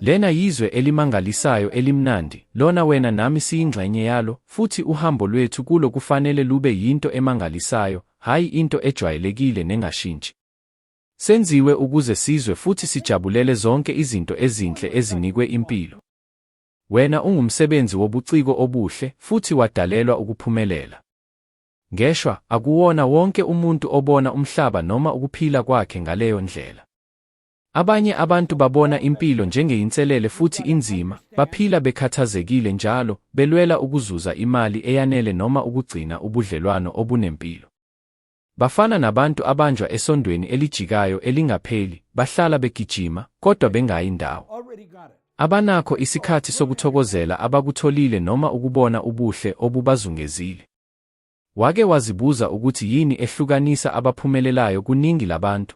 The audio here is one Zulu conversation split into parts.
Lena yizwe elimangalisayo elimnandi, lona wena nami siyingxenye yalo, futhi uhambo lwethu kulo kufanele lube yinto emangalisayo, hhayi into ejwayelekile nengashintshi. Senziwe ukuze sizwe futhi sijabulele zonke izinto ezinhle ezinikwe impilo. Wena ungumsebenzi wobuciko obuhle futhi wadalelwa ukuphumelela. Ngeshwa, akuwona wonke umuntu obona umhlaba noma ukuphila kwakhe ngaleyo ndlela. Abanye abantu babona impilo njengeyinselele futhi inzima, baphila bekhathazekile njalo, belwela ukuzuza imali eyanele noma ukugcina ubudlelwano obunempilo. Bafana nabantu abanjwa esondweni elijikayo elingapheli, bahlala begijima, kodwa bengayi ndawo. Abanakho isikhathi sokuthokozela abakutholile noma ukubona ubuhle obubazungezile. Wake wazibuza ukuthi yini ehlukanisa abaphumelelayo kuningi labantu?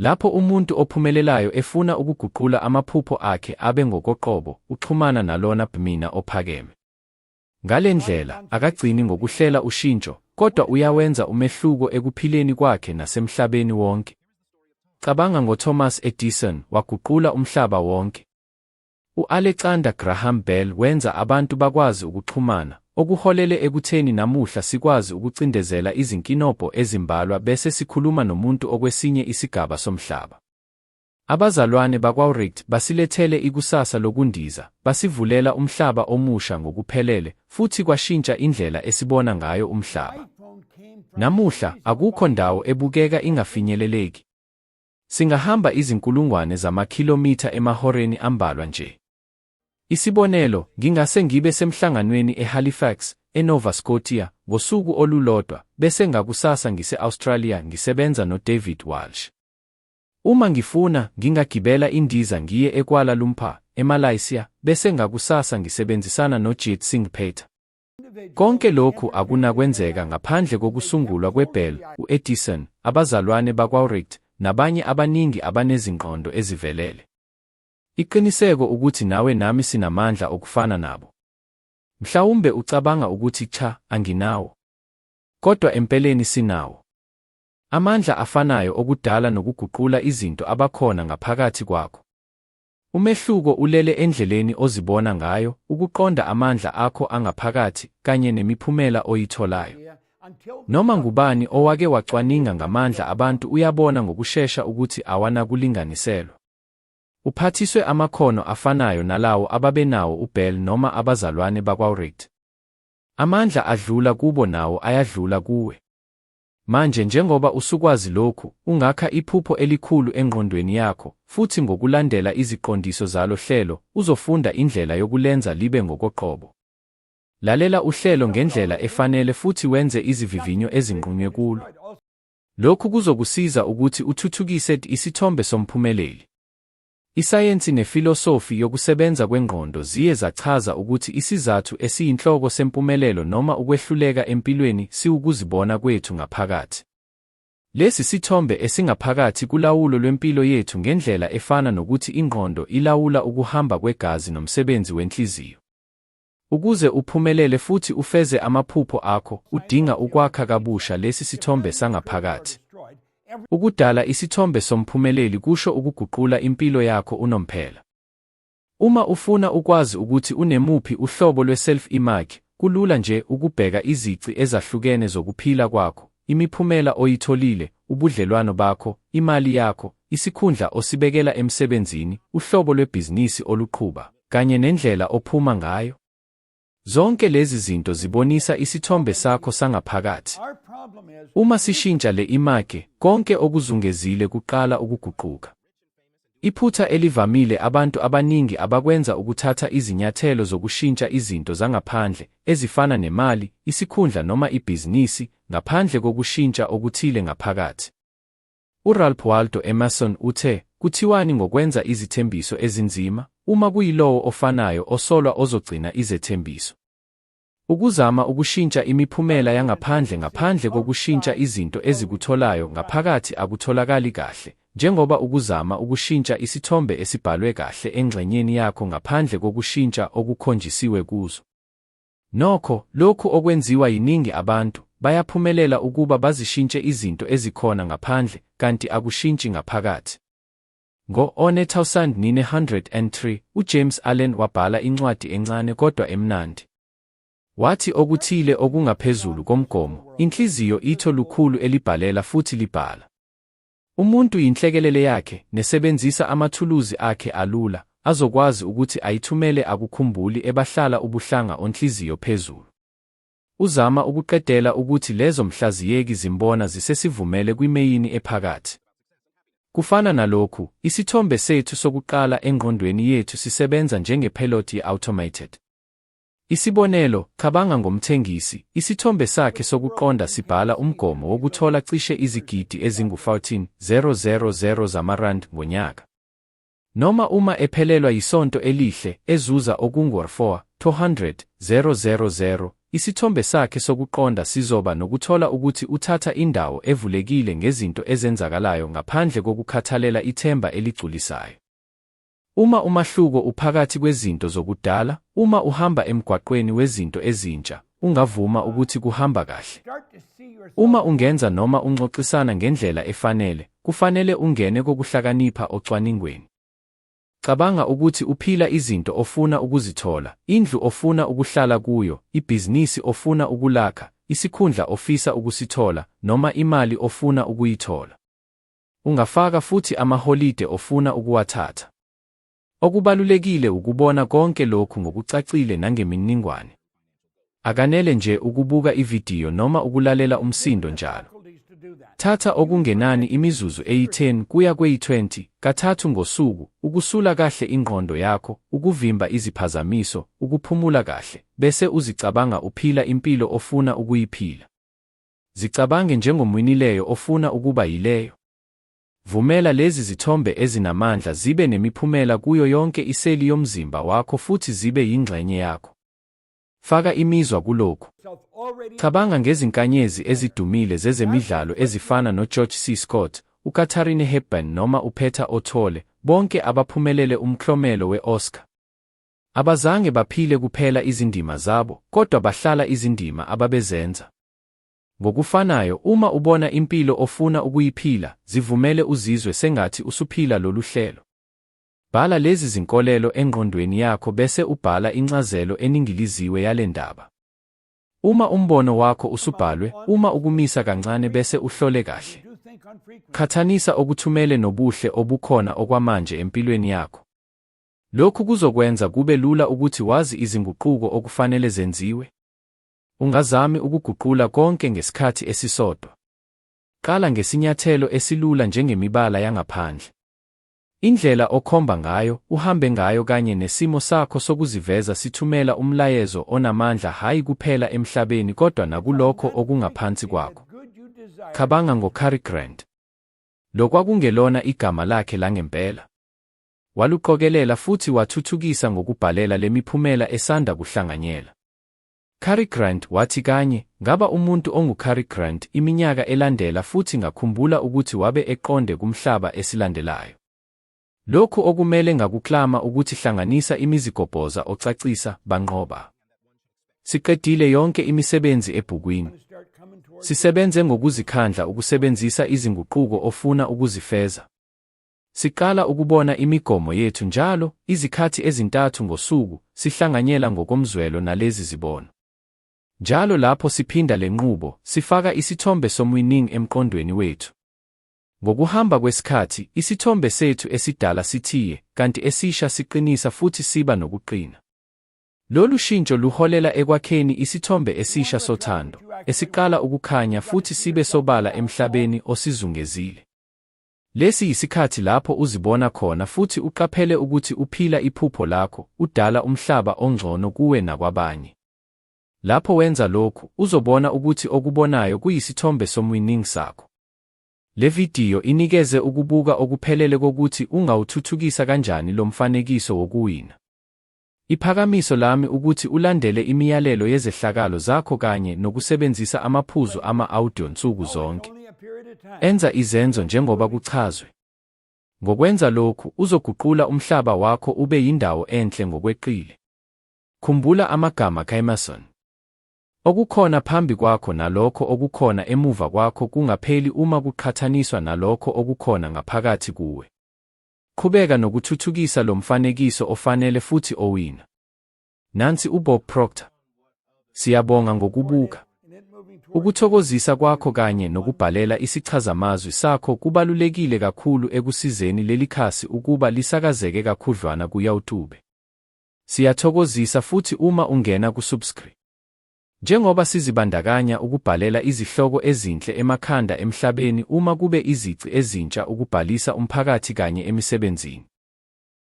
Lapho umuntu ophumelelayo efuna ukuguqula amaphupho akhe abe ngokoqobo, uxhumana nalona Bmina ophakeme. Ngale ndlela, akagcini ngokuhlela ushintsho, kodwa uyawenza umehluko ekuphileni kwakhe nasemhlabeni wonke. Cabanga ngoThomas Edison, waguqula umhlaba wonke. U-Alexander Graham Bell wenza abantu bakwazi ukuxhumana, okuholele ekutheni namuhla sikwazi ukucindezela izinkinobho ezimbalwa bese sikhuluma nomuntu okwesinye isigaba somhlaba. Abazalwane bakwaWright basilethele ikusasa lokundiza, basivulela umhlaba omusha ngokuphelele, futhi kwashintsha indlela esibona ngayo umhlaba. Namuhla, akukho ndawo ebukeka ingafinyeleleki. Singahamba izinkulungwane zamakhilomitha emahoreni ambalwa nje. Isibonelo, ngingase ngibe semhlanganweni eHalifax, eNova Scotia, ngosuku olulodwa, bese ngakusasa ngise-Australia ngisebenza noDavid Walsh. Uma ngifuna, ngingagibela indiza ngiye eKuala Lumpur, eMalaysia, bese ngakusasa ngisebenzisana noJit Singh Pater. Konke lokhu akunakwenzeka ngaphandle kokusungulwa kweBell, u-Edison, abazalwane bakwaWright, nabanye abaningi abanezingqondo ezivelele. Iqiniseko ukuthi nawe nami sinamandla okufana nabo. Mhlawumbe ucabanga ukuthi cha, anginawo. Kodwa empeleni sinawo. Amandla afanayo okudala nokuguqula izinto abakhona ngaphakathi kwakho. Umehluko ulele endleleni ozibona ngayo, ukuqonda amandla akho angaphakathi, kanye nemiphumela oyitholayo. Noma ngubani owake wacwaninga ngamandla abantu uyabona ngokushesha ukuthi awanakulinganiselwa. Uphathiswe amakhono afanayo nalawo ababenawo uBell noma abazalwane bakwaWright. Amandla adlula kubo nawo ayadlula kuwe. Manje, njengoba usukwazi lokhu, ungakha iphupho elikhulu engqondweni yakho, futhi ngokulandela iziqondiso zalo hlelo, uzofunda indlela yokulenza libe ngokoqobo. Lalela uhlelo ngendlela efanele futhi wenze izivivinyo ezinqunywe kulo. Lokhu kuzokusiza ukuthi uthuthukise isithombe somphumeleli. Isayensi nefilosofi yokusebenza kwengqondo ziye zachaza ukuthi isizathu esiyinhloko sempumelelo noma ukwehluleka empilweni siwukuzibona kwethu ngaphakathi. Lesi sithombe esingaphakathi kulawulo lwempilo yethu ngendlela efana nokuthi ingqondo ilawula ukuhamba kwegazi nomsebenzi wenhliziyo. Ukuze uphumelele futhi ufeze amaphupho akho, udinga ukwakha kabusha lesi sithombe sangaphakathi. Ukudala isithombe somphumeleli kusho ukuguqula impilo yakho unomphela. Uma ufuna ukwazi ukuthi unemuphi uhlobo lwe-self-image, kulula nje ukubheka izici ezahlukene zokuphila kwakho, imiphumela oyitholile, ubudlelwano bakho, imali yakho, isikhundla osibekela emsebenzini, uhlobo lwebhizinisi oluqhuba, kanye nendlela ophuma ngayo. Zonke lezi zinto zibonisa isithombe sakho sangaphakathi. Uma sishintsha le image, konke okuzungezile kuqala ukuguquka. Iphutha elivamile abantu abaningi abakwenza ukuthatha izinyathelo zokushintsha izinto zangaphandle, ezifana nemali, isikhundla noma ibhizinisi, ngaphandle kokushintsha okuthile ngaphakathi. URalph Waldo Emerson uthe, Kuthiwani ngokwenza izithembiso ezinzima, uma kuyilowo ofanayo osolwa ozogcina izethembiso? Ukuzama ukushintsha imiphumela yangaphandle ngaphandle kokushintsha izinto ezikutholayo ngaphakathi akutholakali kahle, njengoba ukuzama ukushintsha isithombe esibhalwe kahle engxenyeni yakho ngaphandle kokushintsha okukhonjisiwe kuzo. Nokho, lokhu okwenziwa yiningi abantu, bayaphumelela ukuba bazishintshe izinto ezikhona ngaphandle, kanti akushintshi ngaphakathi. Ngo-1903, uJames Allen wabhala incwadi encane kodwa emnandi. Wathi okuthile okungaphezulu komgomo, inhliziyo itho lukhulu elibhalela futhi libhala. Umuntu yinhlekelele yakhe, nesebenzisa amathuluzi akhe alula, azokwazi ukuthi ayithumele akukhumbuli ebahlala ubuhlanga onhliziyo phezulu. Uzama ukuqedela ukuthi lezo mhlaziyeki zimbona zisesivumele kwimeyini ephakathi. Kufana nalokhu, isithombe sethu sokuqala engqondweni yethu sisebenza njengephelothi ye-automated. Isibonelo, cabanga ngomthengisi, isithombe sakhe sokuqonda sibhala umgomo wokuthola cishe izigidi ezingu-14,000 zamarandi ngonyaka. Noma uma ephelelwa yisonto elihle, ezuza okungu-4,200,000, isithombe sakhe sokuqonda sizoba nokuthola ukuthi uthatha indawo evulekile ngezinto ezenzakalayo ngaphandle kokukhathalela ithemba eligculisayo. Uma umahluko uphakathi kwezinto zokudala, uma uhamba emgwaqweni wezinto ezintsha, ungavuma ukuthi kuhamba kahle. Uma ungenza noma unxoxisana ngendlela efanele, kufanele ungene kokuhlakanipha ocwaningweni. Cabanga ukuthi uphila izinto ofuna ukuzithola, indlu ofuna ukuhlala kuyo, ibhizinisi ofuna ukulakha, isikhundla ofisa ukusithola, noma imali ofuna ukuyithola. Ungafaka futhi amaholide ofuna ukuwathatha. Okubalulekile wukubona konke lokhu ngokucacile nangemininingwane. Akanele nje ukubuka ividiyo noma ukulalela umsindo njalo. Thatha okungenani imizuzu eyi-10 kuya kweyi-20 kathathu ngosuku ukusula kahle ingqondo yakho, ukuvimba iziphazamiso, ukuphumula kahle, bese uzicabanga uphila impilo ofuna ukuyiphila. Zicabange njengomwinileyo ofuna ukuba yileyo. Vumela lezi zithombe ezinamandla zibe nemiphumela kuyo yonke iseli yomzimba wakho futhi zibe yingxenye yakho. Faka imizwa kulokhu. Cabanga ngezinkanyezi ezidumile zezemidlalo ezifana noGeorge C. Scott, uKatharine Hepburn noma uPeter O'Toole, bonke abaphumelele umklomelo we-Oscar. Abazange baphile kuphela izindima zabo, kodwa bahlala izindima ababezenza. Ngokufanayo, uma ubona impilo ofuna ukuyiphila, zivumele uzizwe sengathi usuphila lolu hlelo. Bhala lezi zinkolelo engqondweni yakho bese ubhala incazelo eningiliziwe yale ndaba. Uma umbono wakho usubhalwe, uma ukumisa kancane bese uhlole kahle. Qhathanisa okuthumele nobuhle obukhona okwamanje empilweni yakho. Lokhu kuzokwenza kube lula ukuthi wazi izinguquko okufanele zenziwe. Ungazami ukuguqula konke ngesikhathi esisodwa. Qala ngesinyathelo esilula njengemibala yangaphandle. Indlela okhomba ngayo, uhambe ngayo kanye nesimo sakho sokuziveza sithumela umlayezo onamandla hhayi kuphela emhlabeni kodwa nakulokho okungaphansi kwakho. Cabanga ngoCary Grant. Lo kwakungelona igama lakhe langempela. Waluqokelela futhi wathuthukisa ngokubhalela le miphumela esanda kuhlanganyela. Cary Grant wathi kanye, Ngaba umuntu onguCary Grant iminyaka elandela futhi ngakhumbula ukuthi wabe eqonde kumhlaba esilandelayo. Lokhu okumele ngakuklama ukuthi hlanganisa imizigobhoza ocacisa, banqoba. Siqedile yonke imisebenzi ebhukwini. Sisebenze ngokuzikhandla ukusebenzisa izinguquko ofuna ukuzifeza. Siqala ukubona imigomo yethu njalo, izikhathi ezintathu ngosuku, sihlanganyela ngokomzwelo nalezi zibono. Njalo lapho siphinda le nqubo, sifaka isithombe somwining emqondweni wethu. Ngokuhamba kwesikhathi, isithombe sethu esidala sithiye, kanti esisha siqinisa futhi siba nokuqina. Lolu shintsho luholela ekwakheni isithombe esisha sothando, esiqala ukukhanya futhi sibe sobala emhlabeni osizungezile. Lesi yisikhathi lapho uzibona khona futhi uqaphele ukuthi uphila iphupho lakho, udala umhlaba ongcono kuwe nakwabanye. Lapho wenza lokhu, uzobona ukuthi okubonayo kuyisithombe somwining sakho. Le vidiyo inikeze ukubuka okuphelele kokuthi ungawuthuthukisa kanjani lo mfanekiso wokuwina. Iphakamiso lami ukuthi ulandele imiyalelo yezehlakalo zakho kanye nokusebenzisa amaphuzu ama-audio nsuku zonke. Enza izenzo njengoba kuchazwe. Ngokwenza lokhu, uzoguqula umhlaba wakho ube yindawo enhle ngokweqile. Khumbula amagama kaEmerson. Okukhona phambi kwakho nalokho okukhona emuva kwakho kungapheli uma kuqhathaniswa nalokho okukhona ngaphakathi kuwe. Qhubeka nokuthuthukisa lo mfanekiso ofanele futhi owina. Nansi uBob Proctor. Siyabonga ngokubuka. Ukuthokozisa kwakho kanye nokubhalela isichazamazwi sakho kubalulekile kakhulu ekusizeni leli khasi ukuba lisakazeke kakhudlwana kuYawutube. Siyathokozisa futhi uma ungena kusubscri. Njengoba sizibandakanya ukubhalela izihloko ezinhle emakhanda emhlabeni uma kube izici ezintsha ukubhalisa umphakathi kanye emisebenzini.